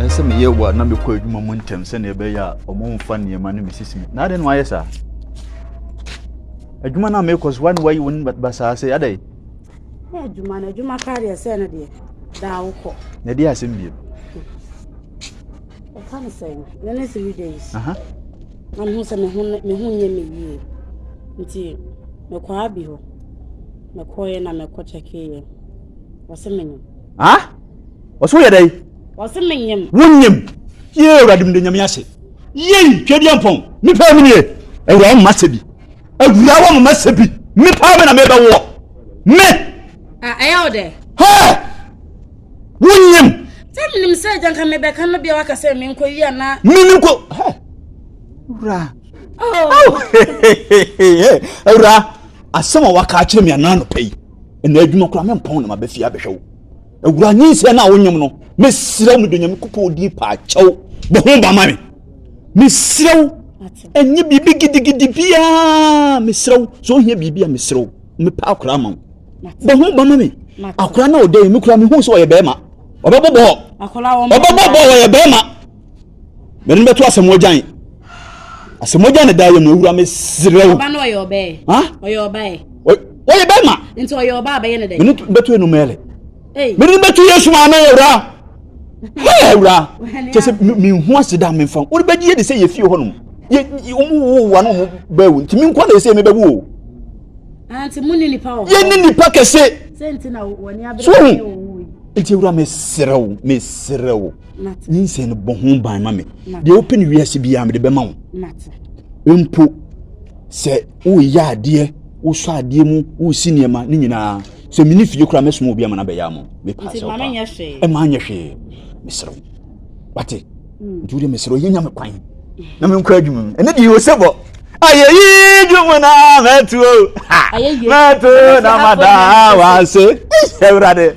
Ɛsɛ sɛ meyɛ wɔ na mekɔ adwuma mu ntɛm sɛnea ɛbɛyɛ a wɔmfa nneɛma no mesisi me. Na adɛn na wayɛ saa? Adwuma no a mekɔ so, wane wayi wo no ba saa sɛ adɛn? Na adwuma no, adwuma koraa deɛ sɛ no deɛ, daa wokɔ. Na ɛde asɛm bio. Ɛka no sɛ, na ne three days. Aha. Na mehu sɛ me ho nyɛ me yie. Nti, mekɔa bi hɔ. mekɔeɛ na mekɔ kyɛkeeɛ. Ɔse menyem. Ah? Ɔse woyɛ dɛn? Ɔse menyem. Wonyem? Yee awurade mede nyame ase. Yei twɛ bi ampɔn. Mepaa mu nie. Awura wɔn mma sɛ bi. Awura wɔn mma sɛ bi. Mepaa mu na mebɛ woɔ. Me. Ah, ɛyɛ wo dɛ? Hɛɛ! Wonyem? Sɛ menim sɛ agya nka mebɛka no bia waka sɛ menkɔ yi ana. Menim ko. Hɛɛ! Awura. Oh. Awura. asɛm a waka akyerɛ me anaa anɔpa yi ɛna adwuma koraa mempɔn na mabɛfie abɛhwɛ wo awura nyinsɛ no a wonyam no mesrɛ wo medɔ nyamekopɔn din paa kyɛw bɔ ho ba ma me mesrɛ wo ɛnyɛ biribi gidigidi biaa mesrɛ wo sɛ ohia biribi a mesrɛ wo mepɛ akora ma wo bɔ ho ba ma me akora na ɔdɛ me kora mehu sɛ ɔyɛ bɛrima ɔbɛbɔbɔ ɔbɛbɔbɔ ɔyɛ bɛrima M'ani bɛto asɛm wagyan. Asɛm wagyan ne daayɛ mu ewura me serɛ wo. Ɔba no ɔyɛ ɔbɛɛ. Ha? Ɔyɛ ɔbɛɛ. Ɔyɛ bɛɛ ma. Nti ɔyɛ ɔbaa bɛyɛ ne dɛ. M'ani bɛto enu mɛlɛ. M'ani bɛto Yesu maame ewura. Hɛɛ ewura. Kyɛ sɛ menhu ase da menfa. Wɔde bɛgye yɛ de sɛ yɛ fie hɔ nom. Yɛ wɔn wo wa no wɔn bɛɛ wo. Nti menkwa na ɛsɛ mebɛwu o. Anti mu ni nipa wɔ hɔ. Yɛ ni nipa kɛse. Sɛ nti na wɔn ni abere. So nti ewura meserɛ wo meserɛ wo. Ne nsɛm no bɔ ho ban ma me. Deɛ wopɛ no wiase biara mede bɛma wo. Mpo sɛ woyɛ adeɛ, wosɔ adeɛ mu, wosi nneɛma ne nyinaa. Sɛ mene fie koraa mɛsoma obi ama no abɛyɛ ama wo. Mepaa sɛ wopa. Ɛma anyɛ hwee. Mesrɛ wo. Wate? Hmm. Nti wode mesrɛ wo yɛnya me kwan na menkɔ adwuma mu. Ɛne deɛ ɔsɛ bɔ. Ayeyi dwom na mɛto o. Mɛto na mada wase. Awurade.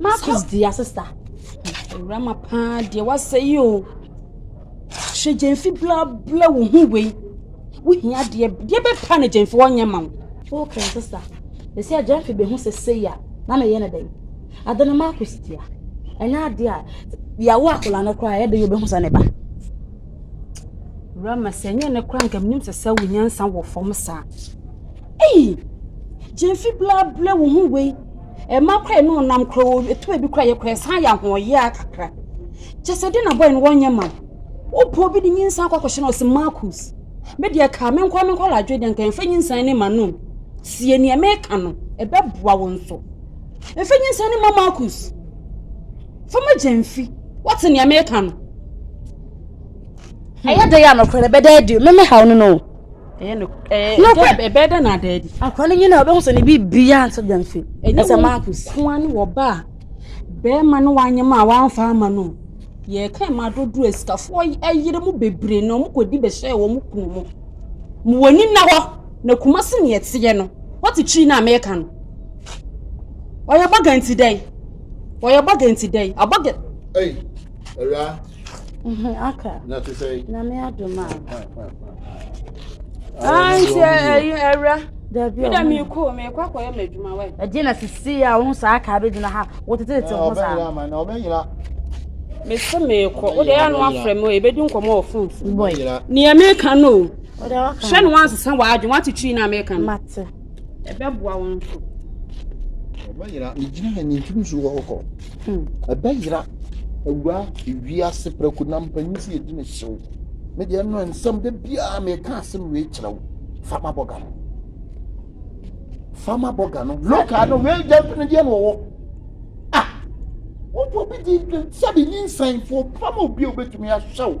Marcus di asesa. Awurama paa deɛ wasɛ yi o. Hyɛ gyemfi blabla wo ho wei. Wohia deɛ deɛ bɛpa ne gyemfi wɔnyɛ ma wo. Wo kra sesa. Ɛsɛ a gyemfi bɛhu sɛ sei a na meyɛ no dɛn. Ade no Marcus dia. Ɛnyɛ adeɛ a yɛawo akwadaa no koraa ɛyɛ dɛ yɛ obɛhu sɛ ne ba. Awurama sɛ ɛnyɛ ne koraa nka menim sɛ sɛ wo nyansa wɔ fam saa. Ei! Gyamfi bla bla wo ho wei. Ɛma kora ɛne ɔnam kora o, ɛtu ebi kora yɛ kora ɛsan yɛ ahoɔyea kakra. Kyɛ sɛ ɛde na bɔyɛ no wɔnyɛ ma wo. Wopɔ bi de nyinsa akɔ akɔhyɛ no ɔse Marcus. Me deɛ kaa me nkoa me nkɔ ladwe deɛ nka ɛmfa nyinsa ne ma no. Tie neɛ meka no, ɛbɛboa wo nso. Ɛmfa nyinsa ne ma Marcus. Fa ma gyamfi. Wote neɛ meka no. Hmm. Ɛyɛ dɛ yɛ anɔkorɛ no bɛda adi. Meme haw no no. ɛyɛ no ɛɛ nokorɛ ɛbɛyɛ dɛ na adaabi. akora no nyina ɔbɛhu sɛ ne bi bia nso dɛm fi ɛsɛ marcus. ɛnyɛ wɔn ne wɔ ba a bɛrima no wanyɛ mu a wamfa ama no yɛ ka ɛma dodoɔ asikafoɔ ayere mu bebree na wɔn kɔ di bɛhyɛ wɔn kunu mu mo wɔn ani na hɔ na kuma se ne ɛteɛ no wɔte kyiri no a mɛka no ɔyɛ bɔga nti dɛn ɔyɛ bɔga nti dɛn abɔga. Hey, aka nyame adom a ankyɛ ayi awura meda meekɔ meekɔ akɔyɛ m'adwuma wɛ ɛdeɛ na sisi a wo saa kaa bɛgyina ha wotetetete ho saa mese meekɔ wode ɛyɛ no afrɛ me ɛbɛdi nkɔmmɔ wɔ fon so neɛ meka no o hyɛ no wansesa w'adwen woatetwii no a meka no ɛbɛboa wo nso. Ɛbɛyera, megyina ha ni ntumi nsuo hɔ kɔ. Hmm. Ɛbɛyera, awura wiase prɛko na mpanyin si yɛdi ne hyew. Me deɛ no nsɛm da biara meka asɛm wei kyerɛ wo. Fama bɔga no. Fama bɔga no. Loka no wei gya mfini deɛ na ɔwɔ. Ah! Wobɔ bi di sɛbi nyinsɛnfoɔ pam obi a wobɛtumi ahyɛ wo.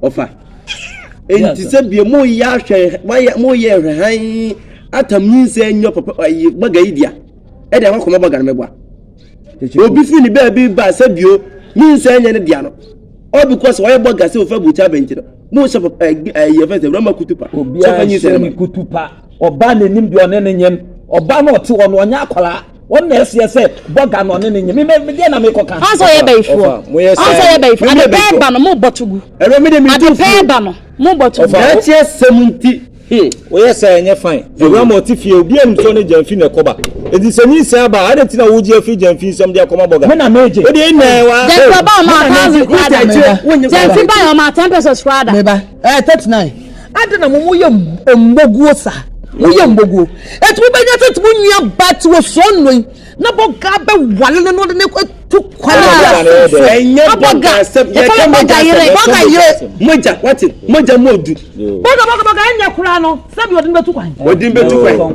Ɔfa. Enti sɛ bia mo yɛ ahwɛ wayɛ mo yɛ hwɛ han atam nyinsɛ nyɛ papa ayi baga yi dia. Ɛde akɔ kɔma baga no mɛboa. Obi fi ne baabi ba sɛ bio nyinsɛ nyɛ ne dia no. All because wayɛ baga sɛ ofa buta bɛnti no. Mo sɛ papa ayi yɛ fɛ sɛ rama kutupa. Obi a nyinsɛ kutupa. Ɔba n'anim deɛ ɔne ne nyɛm. Ɔba no ɔte hɔ no ɔnyɛ akwaraa. wɔn na ɛseɛ sɛ bɔga na ɔne ne nye meme medeɛ na mekɔka ɔsɛ ɔyɛ bayifoɔ ɔsɛ ɔyɛ bayifoɔ adepɛɛ ba no mo bɔto gu adepɛɛ ba no mo bɔto gu ɛkyɛ sɛm nti woyɛ hmm. sɛ ɛnyɛ fan awura ma ɔte fie obi anim sɛ ne gyamfi na ɛkɔba ɛti sɛ ne nsɛn aba adɛn nti na wogye afiri gyamfi nsɛm de akɔma bɔga mena megye wode ɛnɛ wa gyamfi ba ɔma thousand kwada gyamfi ba ɔma ten pesos kwada meba ɛɛ thirty nine Adɛn na mo mo yɛ mmoguo saa? Mo yɛ mmoguo. Eti mo bɛnya sɛ ti mo nua ba ti wɔ sɔɔ nnoi. Na bɔ gaa bɛ wale no no de ne kɔ tu kwan na bi asom so. Ɛnyɛ bɔ gaa sɛm. Yɛ kɛ mo gya sɛm. Bɔ gaa yire. Mo gya wate. Mo gya mo du. Bɔ gaa bɔ gaa bɔ gaa ɛnyɛ kura no. Sɛbi ɔde ne bɛ tu kwan. Ɔde ne bɛ tu kwan.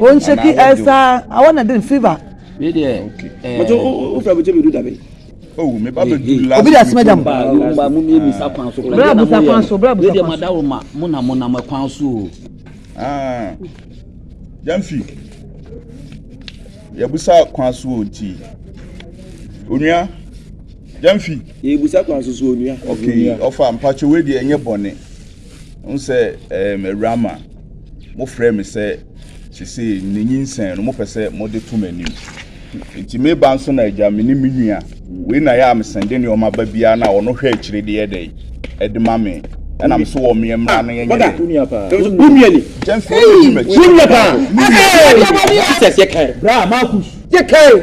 Ɔnhyɛki ɛsaa awɔ na den fever. Obi de asima gya mu. Bra abusa kwan so, bra abusa kwan so. Mo na mo nam kwan so o. Yɛmfi, yɛbusa kwan so o nti. Onua, yɛmfi. Yɛbusa kwan so so onua. Okay, ɔfa mpakyɛwɛ deɛ ɛnyɛ bɔne. Wohu sɛ ɛɛm awura ma mofrɛ me sɛ sesei ne nyinsɛn no mopɛ sɛ mode to m'anim. Nti me ba nso na agya me ne me nua. Wei na yɛ a mesɛnde nneɛma ba biara na ɔno hwɛ akyire de yɛ dɛ ɛde ma me. Ɛna me so wɔ mmea mmara no yɛnyɛ dɛ. Wonua paa. Wonua ni. James fo ɛdi m'akyi. Wonua paa. Ɛɛ ɛdi ɛbɔ ni. Jesus yɛ kan. Bra Marcus. Yɛ kan.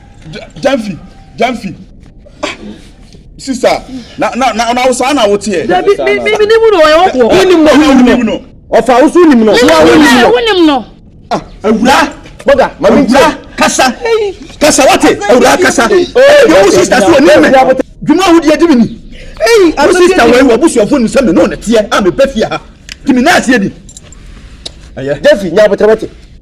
Janfi, Janfi. Ah, sister, na na na na wosaa na woteɛ. Dabi, mi mi mi nimu no ɔyɛ wɔkɔ. Wonim no, wonim no. Ɔfa woso wonim no. Wonim no. Ah, awura. Bɔga, mami nkyɛn. Awura kasa, kasa wate, awura kasa. Ɛdi wo sister so onim mɛ. Dwuma ahodeɛ di mi ni. Wo sister wɔ ewu abusuafo nim sɛ mi n'o na teɛ a mi bɛ fie ha. Tìmí náà si edi. Jeffy, nyɛ abotire wate.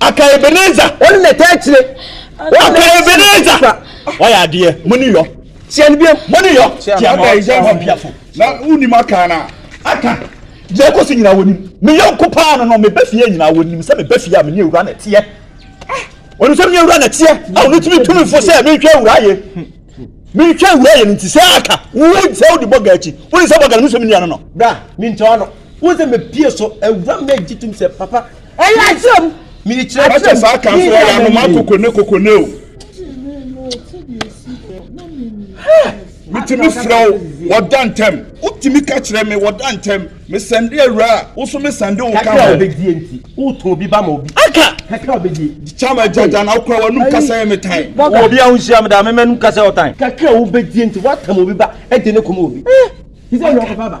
Aka Ebenezer. Wɔn na ɛtaa kyire. Aka Ebenezer. Wɔyɛ adeɛ. Mo ni yɔ. Tia no biam. Mo ni yɔ. Tia mo ɔtɔ hɔ biafo. Na wonim aka na aka. Deɛ ɛkɔ so nyinaa wɔnim. Me yɔnko paa no no me ba fie nyinaa wɔnim sɛ me ba fie a me ne awura na ɛteɛ. Wɔnim sɛ me ne awura na ɛteɛ. A wɔn tumi tumi fo sɛ me nhwɛ awura yɛ. Me nhwɛ awura yɛ no nti sɛ aka. Wo sɛ wode bɔga akyi. Wonim sɛ bɔga no me sɛ me nua no no. Bra, mentɔ ano. Wo sɛ mɛ pie so awura mɛ gye tum sɛ papa. Ɛyɛ akyerɛ mu. Mi yi kyerɛ. Akyɛ saa kan so ɔyɛ anoma koko ne koko ne o. Mitumi frɛ wo wɔda ntɛm. Wotumi ka kyerɛ me wɔda ntɛm. Me sɛnde awura a woso me sɛnde wo ka ho. Kakra obedie nti woto obi ba ma obi. Aka. Kakra obedie. Kyama gyaja na okura wanum kasa yɛ me tan. Wɔ obi ahohyia me da me mɛnum kasa yɛ ɔtan. Kakra obedie nti watam obi ba ɛde ne kɔm obi. Ti sɛ yɛ ɔkɔfa ba.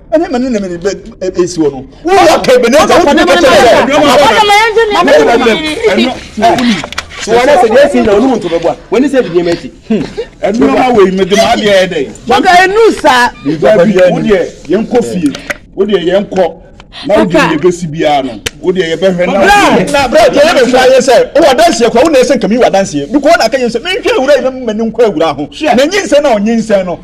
ɛne mene ne mene ɛsi hɔ no woyɛ ka bɛne sɛ wotumi ka kyerɛ sɛ wɔne sɛ deɛ ɛsi na ɔnom nto bɛboa wɔne sɛ bidie ma akyi ɛnoma wei mede ma adeɛ ɛyɛ dɛn maka ɛnu saa wodeɛ yɛnkɔ fie wodeɛ yɛnkɔ na wode yɛ bɛsi biara no wodeɛ yɛbɛhwɛ na brɛ deɛ yɛ bɛfira yɛ sɛ wowɔ adanseɛ kora wo na ɛsɛ nkami wɔ adanseɛ bikɔ na aka yɛ sɛ menhwɛ awura yi na mmani nkɔ awura ho na nyinsɛn na ɔnyinsɛn no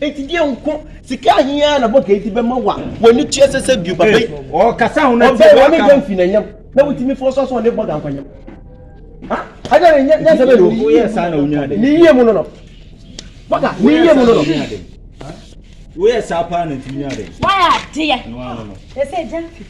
Enti deɛ nko sika ahe ara na bɔga yi de bɛma wo a w'ani tua sɛ sɛ bio baba yi ɔbɛn wo ne gya mfi n'anyam na wotumi fɔ sɔ sɛ ɔne bɔga nkɔnyam ha ɛna ne nyɛ sɛ bɛde o ne yie mu no no bɔga ne yie mu no no woyɛ saa paa na ntumi nya ade wayɛ adeɛ ɛsɛ gya mfi